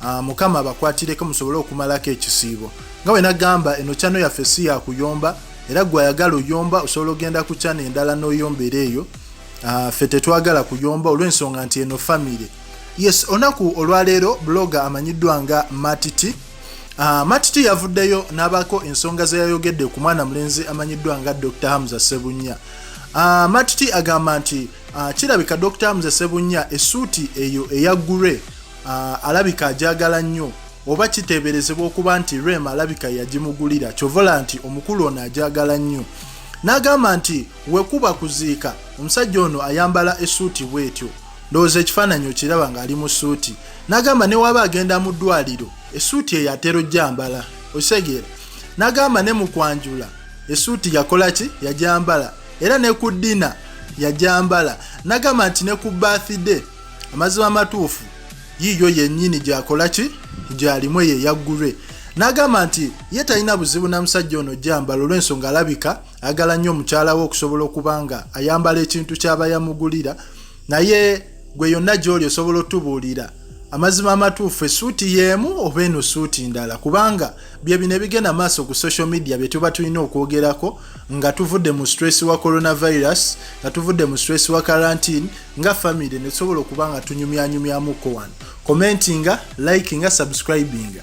Ah, mukama abakwatireko musobole okumalako ekisiibo nga wena gamba eno kyano yaffe si yakuyomba era gwe ayagala oyomba osobola ogenda ku kyano endala n'oyombera eyo ah, ffe tetwagala kuyomba olw'ensonga nti eno famire yes olunaku olwaleero bloga amanyiddwa nga matiti ah, matiti yavuddeyo n'abaako ensonga ze yayogedde ku mwana mulenzi amanyiddwa nga dr hamza sebunya matiti agamba nti kirabika dr hamza sebunya esuuti eyo eya gure uh, alabika ajagala nnyo oba kiteeberezebwa okuba nti rem alabika yagimugulira kyovola nti omukulu ono ajagala nnyo n'agamba nti wekuba kuziika omusajja ono ayambala esuuti bwetyo ndowooza ekifaananyi okiraba ng'ali mu suuti n'agamba ne waba agenda mu ddwaliro esuuti eyo atera ojjambala okitegeera n'agamba ne mu kwanjula esuuti yakola ki yajambala era ne ku ddina yajambala n'agamba nti ne ku bathday amazima amatuufu yiiyo yennyini gyakola ki gyalimu eyo eyaggulwe n'agamba nti ye talina buzibu na musajja ono jambala olw'ensonga alabika agala nnyo omukyala we okusobola okuba nga ayambala ekintu ky'aba yamugulira naye gwe yonna gy'oli osobola otubuulira amazima amatuufu esuuti y'emu oba eno suuti ndala kubanga bye bino ebigenda maaso ku social media bye tuba tulina okwogerako nga tuvudde mu stress wa coronavirus nga tuvudde mu stress wa karantine nga famire netusobola okuba nga tunyumyanyumyamuko wano commentinga likinga subscribinga